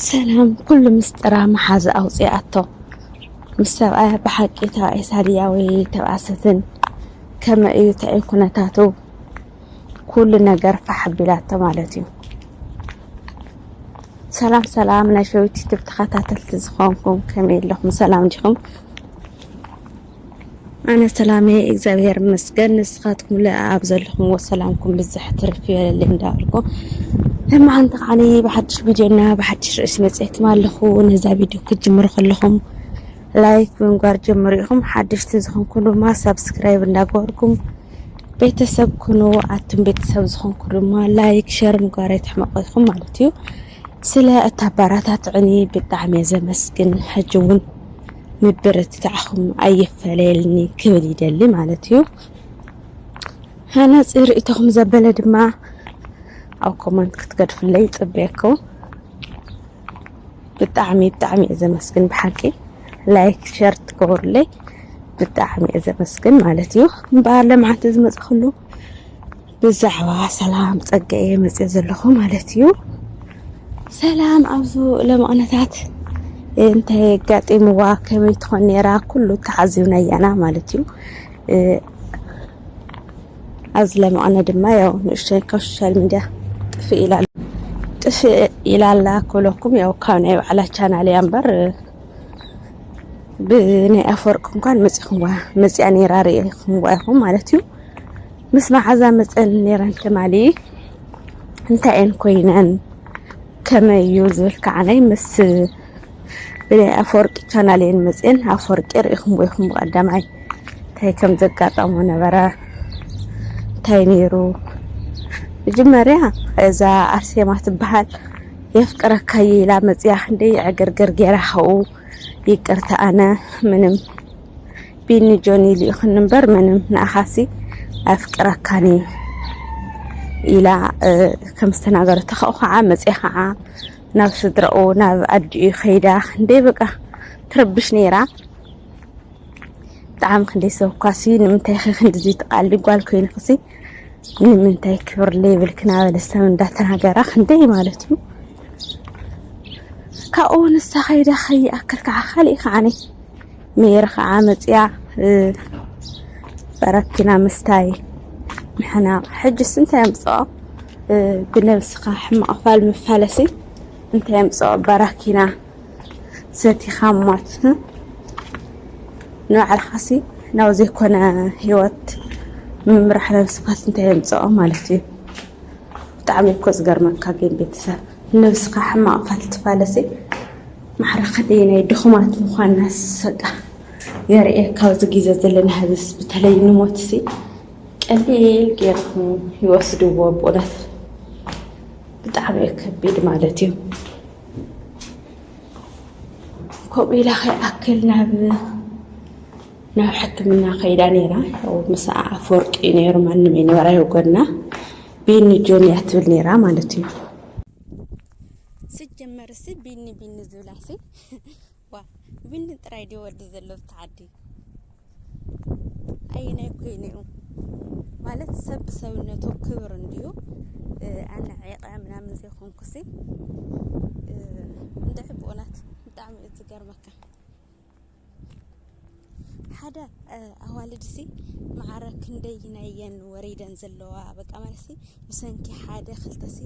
ሰላም ኩሉ ምስጥራ መሓዛ ኣውጽኣቶ ምስ ሰብኣያ ብሓቂ ተባኢ ሳልያ ወይ ተባኣ ሰትን ከመ እዩ ተዩ ኩነታቱ ኩሉ ነገር ፋሕ ቢላቶ ማለት እዩ ሰላም ሰላም ናይ ሸዊት ዩቱብ ተኸታተልቲ ዝኾንኩም ከመይ ኣለኹም ሰላም ዲኹም ኣነ ሰላም እየ እግዚኣብሔር ይመስገን። ንስኻትኩም ለ ኣብ ዘለኹምዎ ሰላምኩም ብዝሕ ትርፍ ይበለለይ እንዳበልኩ ሕማቅ እንተ ከዓኒ ብሓድሽ ቪድዮና ብሓድሽ ርእሲ መፅኤትም ኣለኹ ነዛ ቪድዮ ክትጅምሩ ከለኹም ላይክ ብምግባር ጀምሩ ኢኹም ሓደሽቲ ዝኾንኩም ድማ ሳብስክራይብ እንዳገበርኩም ቤተሰብ ኩኑ ኣቱም ቤተሰብ ዝኾንኩ ድማ ላይክ ሸር ምግባር ኣይትሕመቁ ኢኹም ማለት እዩ ስለ እታ ኣባራታትዕኒ ብጣዕሚ እየ ዘመስግን ሕጂ እውን ምብርትታዕኹም ኣይፈለየልኒ ክብል ይደሊ ማለት እዩ ሃናፂ ርእቶኹም ዘበለ ድማ ኣብ ኮመንት ክትገድፍለይ ይፅበየኩም ብጣዕሚ ብጣዕሚ እየ ዘመስግን ብሓቂ ላይክ ሸር ትገብሩለይ ብጣዕሚ እየ ዘመስግን ማለት እዩ እምበኣር ለምዓንቲ ዝመፅእ ኩሉ ብዛዕባ ሰላም ጸገ እየ መጽእ ዘለኹ ማለት እዩ ሰላም ኣብዙ ለመቕነታት እንታይ የጋጢምዋ ከመይ ትኾን ነራ ኩሉ ተሓዚብና እያና ማለት እዩ ኣብዚ ለመቕነ ድማ ያው ንእሽተይ ካብ ሶሻል ሚድያ ጥፍእ ኢላ ጥፍእ ኢላላ ኩለኩም ያው ካብ ናይ ባዕላ ቻናል እያ እምበር ብናይ ኣፈወርቂ እንኳን መፂኹምዋ መፅኣ ነይራ ርእኹምዋ ኢኹም ማለት እዩ ምስ መዓዛ መፀን ነይረን ትማሊ እንታይ እየን ኮይነን ከመይ እዩ ዝብል ከዓነይ ምስ ብናይ ኣፈወርቂ ቻናል እየን መፅን ኣፈወርቂ ርእኹምዎ ኢኹም ብቀዳማይ እንታይ ከም ዘጋጠሞ ነበረ እንታይ ነይሩ መጀመርያ እዛ ኣርሴማ ትበሃል የፍቅረካ እየ ኢላ መፅያ ክንደይ ዕግርግር ጌራ ካብኡ ይቅርታ ኣነ ምንም ቢኒ ጆኒ ልኢኹኒ እምበር ምንም ንኣኻሲ ኣፍቅረካን እዩ ኢላ ከም ዝተናገረቶ ካብኡ ከዓ መፅያ ከዓ ናብ ስድራኡ ናብ ኣዲኡ ከይዳ ክንደይ በቃ ትረብሽ ነይራ ብጣዕሚ ክንደይ ሰብኳሲ ንምንታይ ኸ ክንድዚ ትቃሊ ጓል ኮይንክሲ ንምንታይ ክብር ሌብል ክናበለ ሰብ እንዳተናገራ ክንደይ ማለት እዩ ካብኡ ንሳ ከይዳ ከይኣክል ከዓ ካሊእ ከዓ ሜሪ ከዓ መፅያ በረኪና ምስታይ ምሕናቕ ሕጅስ እንታይ ኣምፅኦ ብነብስኻ ሕማቕ ፋል መፋለሲ እንታይ ኣምፅኦ በረኪና ሰቲኻ ሞት ን ንባዕልኻሲ ናብ ዘይኮነ ሂወት ምምራሕ ነብስኻስ እንታይ የምጽኦ ማለት እዩ ብጣዕሚ እኮ ዝገርመካ ግን ቤተሰብ ነብስኻ ሕማቕ ፋልትፋለሲ ማዕረ ክንደይ ናይ ድኹማት ምዃንናስ በቃ የርእየካ ኣብዚ ግዜ ዘለና ህዝብስ በተለይ ንሞትሲ ቀሊል ጌርኩም ይወስድዎ ብእውነት ብጣዕሚ እዩ ከቢድ ማለት እዩ። ከምኡ ኢላ ከይኣክል ናብ ናብ ሕክምና ከይዳ ነይራ ያው ምስኣ ኣፈወርቂ እዩ ነይሩ ማንም ይነበራ የጎና ቢኒ ጆን እያ ትብል ነይራ ማለት እዩ ስጀመር ሲ ቢኒ ቢኒ ዝብላ ሲ ዋ ቢኒ ጥራይ ድዩ ወዲ ዘሎ ብቲ ዓዲ ኣየናይ ኮይኑ እዩ ማለት ሰብ ብሰብነቱ ክብር እንድዩ ኣነ ዒቐ ምናምን ዘይኮንኩሲ እንደ ዕቡኡናት ብጣዕሚ እዩ ዝገርመካ ሓደ ኣዋልድሲ መዓረ ክንደይ ናየን ወሪደን ዘለዋ በቃ ማለት ብሰንኪ ሓደ ክልተሲ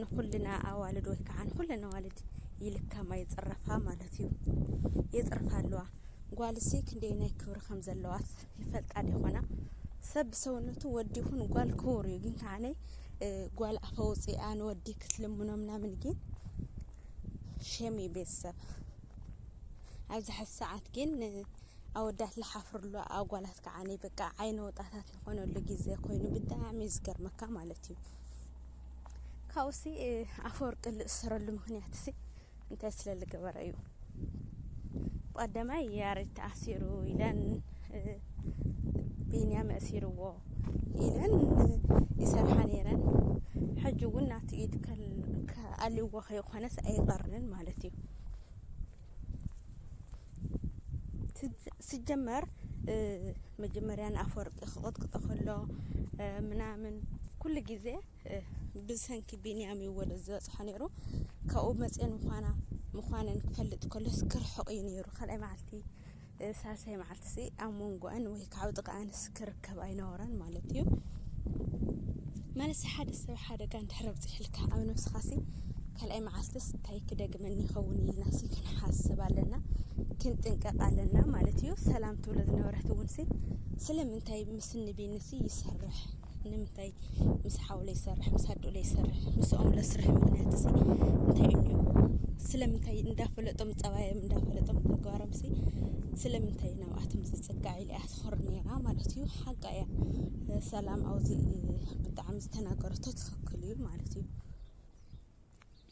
ንኩልና ኣዋልድ ወይ ከዓ ንኩለን ኣዋልድ ይልከማ ይፅረፋ ማለት እዩ የፅርፋ ኣለዋ ጓልሲ ክንደየናይ ክብሪ ከም ዘለዋስ ይፈልጣ ዲኾና ሰብ ብሰውነቱ ወዲ ይኹን ጓል ክቡር እዩ ግን ከዓነ ጓል ኣፈ ውፅኣ ንወዲ ክትልምኖ ምናምን ግን ሸም እዩ ቤተሰብ ኣብዚ ሓዚ ሰዓት ግን ኣወዳት ዝሓፍርሉ ኣጓላት ከዓነ በቃ ዓይነ ወጣታት ዝኾነሉ ግዜ ኮይኑ ብጣዕሚ እዩ ዝገርመካ ማለት እዩ ካብኡሲ ኣፈወርቂ ዝእሰረሉ ምክንያት ሲ እንታይ ስለ ዝገበረ እዩ ብቀዳማይ ያሬድ ተኣሲሩ ኢለን ቢንያም ኣእሲርዎ ኢለን ይሰርሓ ነይረን ሕጂ እውን ናቱ ኢድ ኣልዎ ከይኮነስ ኣይቀርንን ማለት እዩ ሲጀመር መጀመርያ ንኣፈወርቂ ክቕጥቅጦ ከሎ ምናምን ኩሉ ግዜ ብሰንኪ ቢንያም እዩ ወደዚ ዝበፅሖ ነይሩ ካብኡ መፅኤ ምኳና ምኳነን ክፈልጥ ከሎስ ክርሕቕ እዩ ነይሩ ካልኣይ መዓልቲ ሳልሳይ መዓልቲ ሲ ኣብ መንጎኣን ወይ ከዓ ጥቃኣንስ ክርከብ ኣይነበረን ማለት እዩ ማለት ሓደ ሰብ ሓደጋ እንድሕር ኣብፅሕልካ ኣብ ነብስኻ ሲ ካልኣይ መዓልትስ እንታይ ክደግመኒ ይኸውን ኢልና ሲ ክንሓስብ ኣለና ክንጥንቀቕ ኣለና ማለት እዩ ሰላም ትብሎ ዝነበረት እውን ሲ ስለምንታይ ምስ ንቢንሲ ይሰርሕ ንምንታይ ምስ ሓው ለይሰርሕ ምስ ኣዶ ለይሰርሕ ምስኦም ለስርሕ ምክንያት ሲ እንታይ እዩ እኒኦ ስለምንታይ እንዳፈለጦም ፀባዮም እንዳፈለጦም ተግባሮም ሲ ስለምንታይ ናብኣቶም ዝፅጋዕ ኢለ እያ ትኾር ነይራ ማለት እዩ ሓቃ እያ ሰላም ኣብዚ ብጣዕሚ ዝተናገረቶ ትኽክል እዩ ማለት እዩ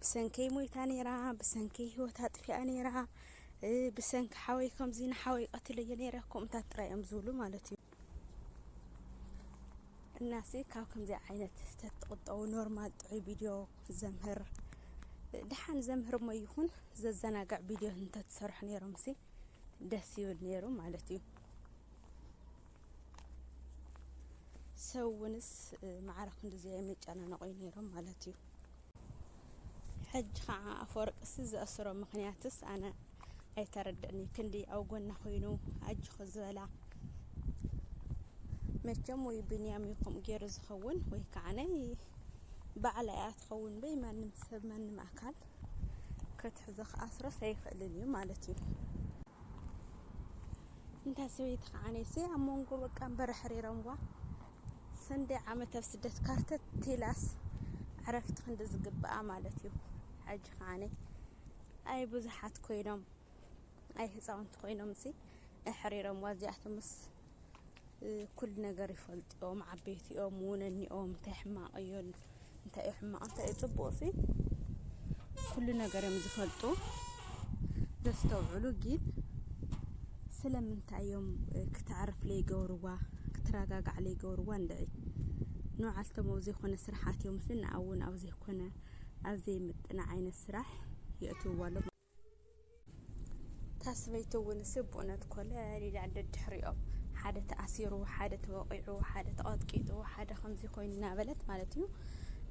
ብሰንከይ ሞይታ ነይራ ብሰንከይ ሂወት ኣጥፊኣ ነይራ ብሰንኪ ሓወይ ከምዚ ንሓወይ ቀትለዮ ነይረ ከምኡታት ጥራይ እዮም ዝብሉ ማለት እዩ እናሲ ካብ ከምዚ ዓይነት ተትቁጠቡ ኖርማል ጥዑይ ቪድዮ ዘምህር ድሓን ዘምህር ሞ ይኹን ዘዘናግዕ ቪድዮ እንተትሰርሑ ነይሮም ሲ ደስ ይብል ነይሩ ማለት እዩ ሰብ እውንስ ማዕረ ክንዲዚ የመጨናነቑ እዩ ነይሮም ማለት እዩ ሕጂ ከዓ ኣፈወርቅሲ ዘእስሮ ምክንያትስ ኣነ ኣይተረድእኒ ክንዲ ኣብ ጎና ኮይኑ ኣጆኺ ዝበላ መቸም ወይ ብንያም እዩ ከምኡ ገይሩ ዝኸውን ወይ ከዓ ናይ ባዕላ እያ ትኸውን በይ ማንም ሰብ ማንም ኣካል ክትሕዞ ክኣስሮስ ኣይኽእልን እዩ ማለት እዩ እንታ ሰበይቲ ከኣ ኣነስ ኣብ መንጎ በቃ እምበር ኣሕሪሮምዋ ሰንደይ ዓመት ኣብ ስደት ካርተት ኢላስ ዕረፍቲ ክንዲ ዝግብኣ ማለት እዩ ሕጂ ከኣ ኣይ ብዙሓት ኮይኖም ኣይ ህፃውንቲ ኮይኖም ሲ ኣሕሪሮምዋ እዚኣቶምስ ኩሉ ነገር ይፈልጡ እቶም ዓበይቲኦም እውን እኒኦም እንታይ ሕማቕ እዮ እንታይ እዩ ሕማቕ እንታይ እዩ ፅቡቕ ሲ ኩሉ ነገር እዮም ዝፈልጡ ዘስተውዕሉ ግን ስለምንታይ እዮም ክተዕርፍ ለይገብርዋ ክትረጋጋዕ ለይገብርዋ እንድዒ ንባዕልቶም ኣብ ዘይኮነ ስራሓት እዮም ሲ ንኣውን ኣብ ዘይኮነ ኣብ ዘይምጥነ ዓይነት ስራሕ የእትውዋ ኣሎ እታ ሰበይቲ እውንስ ብኡነት ኮለል ኢላ ደድሕሪኦም ሓደ ተኣሲሩ፣ ሓደ ተወቒዑ፣ ሓደ ተቐጥቂጡ፣ ሓደ ከምዚ ኮይኑ እናበለት ማለት እዩ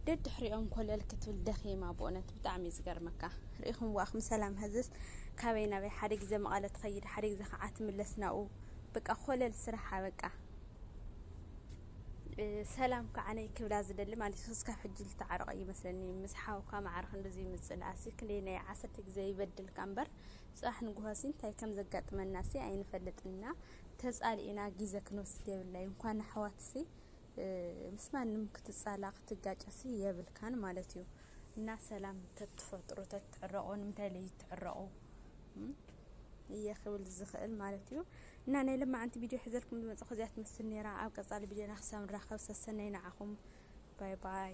ደድሕሪኦም ኮለል ክትብል ደኺማ። ብኡነት ብጣዕሚ እዩ ዝገርመካ። ርኢኹም ዋእኹም ሰላም ሀዝስ ካበይ ናበይ ሓደ ግዜ መቐለ ትኸይድ ሓደ ግዜ ከዓ ትምለስ ናብኡ በቃ ኮለል ስራሓ በቃ ሰላም ከዓ ነይ ክብላ ዝደሊ ማለት እዩ እስካብ ሕጂ ዝተዓረቀ እዩ መስለኒ ምስ ሓውካ መዓር ክንድዚ ምጽልኣሲ ክንደይ ናይ ዓሰርተ ግዜ ይበድልካ እምበር ጽባሕ ንግሆሲ እንታይ ከም ዘጋጥመናሲ ኣይንፈልጥና ተጻሊእና ግዜ ክንወስድ የብላይ እንኳን ኣሕዋትሲ ምስ ማንም ክትጻላ ክትጋጨሲ የብልካን ማለት እዩ እና ሰላም ተትፈጥሩ ተትዕረቁ ንምንታይ ለይትዕረቁ እየ ክብል ዝኽእል ማለት እዩ እና ናይ ለማዓንቲ ቢድዮ ሕዘልኩም ዝመጸኹ እዚኣ ትመስል ነይራ ኣብ ቀጻሊ ቢድዮና ክሳብ ንራኸብ ሰሰነዩ ንዓኹም ባይ ባይ።